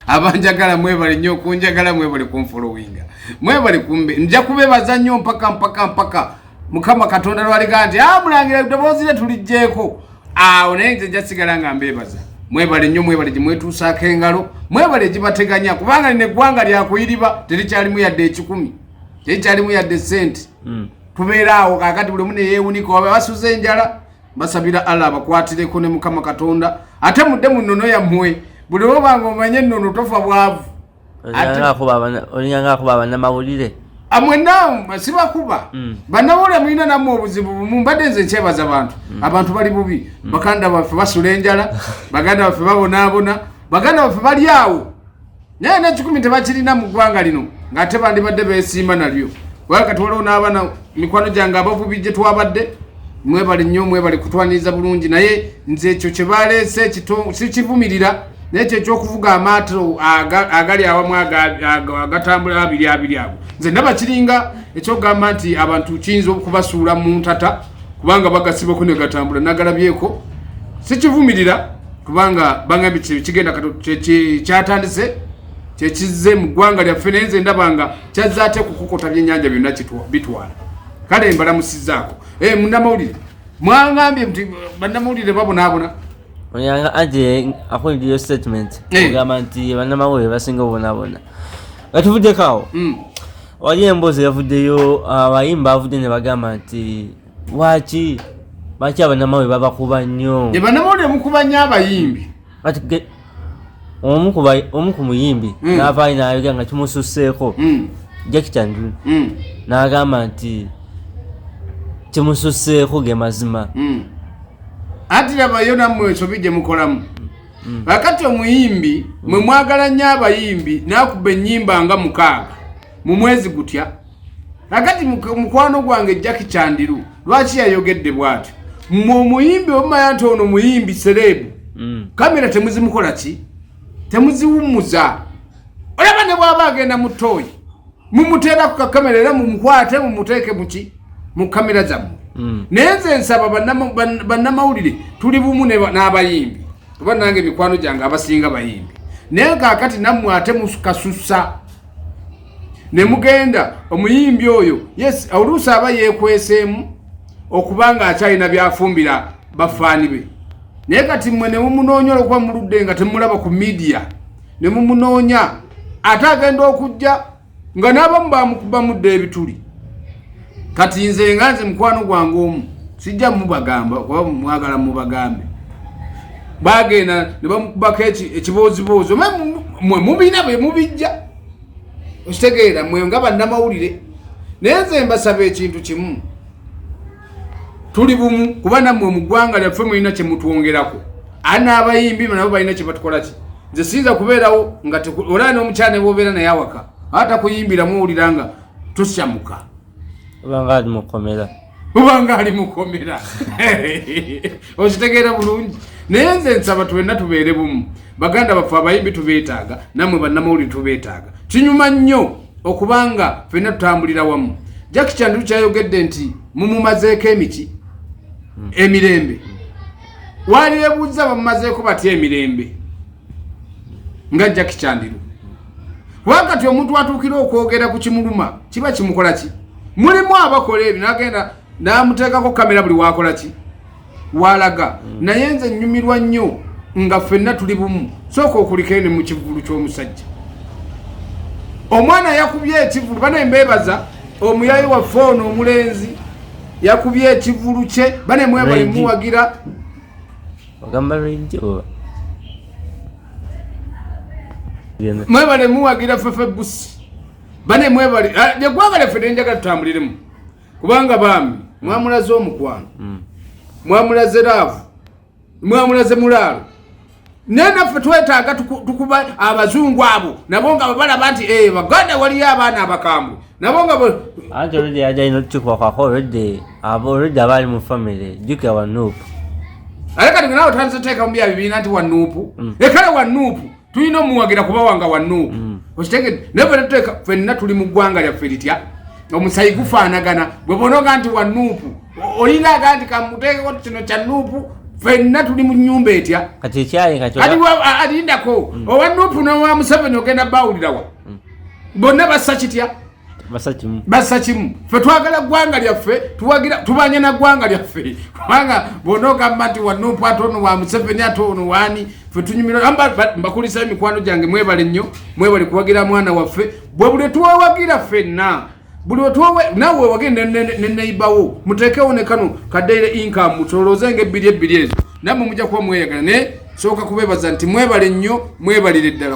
abanjagala mwebale nnyo okunjagala mwebale kunfolowinga mwebale kumbe nja kubebaza nnyo mpaka mpaka mpaka mukama katonda lwaliga nti ah, mulangira eddoboozi lye tulijjeeko awo naye nze nja sigala nga mbebaza mwebale nnyo mwebale gye mwetuusaako engalo mwebale egibateganya kubanga lino eggwanga lyakuyiriba terikyalimu yadde ekikumi terikyalimu yadde sente hmm. tubeera awo kakati buli omu neyeewunika oba basuza enjala mbasabira allah abakwatireko ne mukama katonda ate mudde mu nnono yammwe buli woba nga omanye ennono tofa bwavu olinganga akuba abanamawulire amwena ah, sibakuba mm. banawulire mulina namwe obuzibu bumu mbadde nze nkyebaza bantu mm. abantu bali bubi mm. baganda baffe basula enjala baganda baffe babonaabona baganda baffe bali awo naye nekikumi tebakirina mu ggwanga lino ng'ate bandibadde beesiima nalyo kubanga kati waliwo n'abaana mikwano gyange abavubi gye twabadde mwebale nnyo mwebale kutwaniriza bulungi naye nze ekyo kye baleese sikivumirira naye kyo ekyokuvuga amaato agali awamu agatambula abiri abiri ago nze ndaba kiringa ekyokugamba nti abantu kiyinza okubasuula mu ntata kubanga bagasibako negatambula nagalabyeko sikivumirira kubanga bangambye kigenda kyatandise kyekizze mu ggwanga lyaffe naye nze ndaba nga kyazze ate kukukota byenyanja byonna bitwala kale mbalamusizaako eh, munamawulire mwangambye nti banamawulire babonaabona oyanga aje akuliddeyo statement eh. ogamba nti banamawulire basinga obonabona nga tuvuddeko awo hmm. wali emboozi yavuddeyo abayimba avudde ne bagamba nti lwaki lwaki abanamawe babakuba nnyo e banamawulire mukuba nnyo abayimbi omu ku muyimbi hmm. navaayo nayogera nga kimususseeko hmm. jaki chandun hmm. nagamba nti kimususseeko ge mazima anti labayo nammwe ensobi gye mukolamu kakati omuyimbi mwe mwagala nnyo abayimbi nakuba ennyimba nga mukaaga mu mwezi gutya kakati mukwano gwange jaki kyandiru lwaki yayogedde bwatyo mwe omuyimbi omumanya nti ono muyimbi sereebu mm. kamera temuzimukola ki temuziwummuza olaba ne bwaba agenda mu tooyi mumuteera ku kakamera era mumukwate mumuteeke muki mu kamera zammwe mm. naye nze nsaba bannamawulire tuli bumu n'abayimbi oba nange emikwano gyange abasinga bayimbi naye kakati nammwe ate mukasusa ne mugenda omuyimbi oyo yes oluusi aba yeekweseemu okuba nga akyalina byafumbira bafaani be naye kati mmwe ne mumunoonya olwokuba muludde nga temulaba ku midiya ne mumunoonya ate agenda okujja nga n'abamu bamukubamudde ebituli kati nze nga nze mukwano gwange omu sijja mubagamba kuba mwagala mubagambe bagenda ne bamukubako ekibooziboozi mwe mubina bwe mubijja okitegeera mwe nga bannamawulire naye nze mbasaba ekintu kimu tuli bumu kuba nammwe mu ggwanga lyaffe mulina kye mutwongerako ani abayimbi nabo balina kye batukola ki nze siyinza kubeerawo nga olaa n'omukyala ne bwobeera naye awaka ata kuyimbiramu owulira nga tosyamuka obanga ali mukomera obanga ali mukomera okitegeera bulungi naye nze nsaba tuwenna tubeere bumu baganda baffe abayimbi tubeetaaga namwe bannamawulire tubeetaaga kinyuma nnyo okubanga fenna tutambulira wamu jaki kyandiru kyayogedde nti mumumazeeko emiki emirembe walirebuuza bamumazeeko batya emirembe nga jaki kyandiru wakati omuntu atuukira okwogera ku kimuluma kiba kimukola ki mulimu abakola ebyo nagenda namuteekako kamera buli wakola ki walaga mm. naye nze nnyumirwa nnyo nga ffenna tuli bumu sooka okulikene mu kivulu ky'omusajja omwana yakubye ekivulu bane mbebaza omuyayi waffe ono omulenzi yakubye ekivulu kye bane mwebalimuwagira ogamba lwejjo mwebale muwagira fefe busi bane mwebale egwanga ah, lyaffe nenjagala tutambuliremu kubanga bambi mwamulaze omukwano mm. mwamulaze laavu mwamulaze mulaalo naye naffe twetaaga tukuba abazungu abo nabo nga babalaba nti eh, baganda waliyo abaana abakambwe nabo nga anti oludde yajalina otutukuba kwako oludde oludde abaali mu famire jukira wa nuupu naye kati nawe otandise oteeka mu bya bibiina nti wa nuupu mm. ekale wa nuupu tulina omuwagira kuba wanga wa nuupu mm. okitegede naye fena tuteeka fenna tuli mu ggwanga lyaffe litya omusayi gufaanagana bwe bonoga nti wa nuupu olinga aga nti kamuteekeko kino kya nuupu fenna tuli mu nyumba etya kati ekyayekati alindako mm. owa nuupu nowa museveni ogenda bawulirawa bonna bassa kitya bassa kimu fe twagala ggwanga lyaffe tubanye na ggwanga lyaffe kubanga bwona ogamba nti wanupu ate ono wa museveni ate ono wani fe tunyumira mbakulisa emikwano gyange mwebale nnyo mwebale kuwagira mwana waffe bwe buli twewagira fenna buli wetwowe nawe wewage neneibawo mutekewo nekano kadeire inkamu mutolooze nga ebbiri ebbiri ezo namwe mujja kuba mweyagala naye sooka kubebaza nti mwebale nnyo mwebalire ddala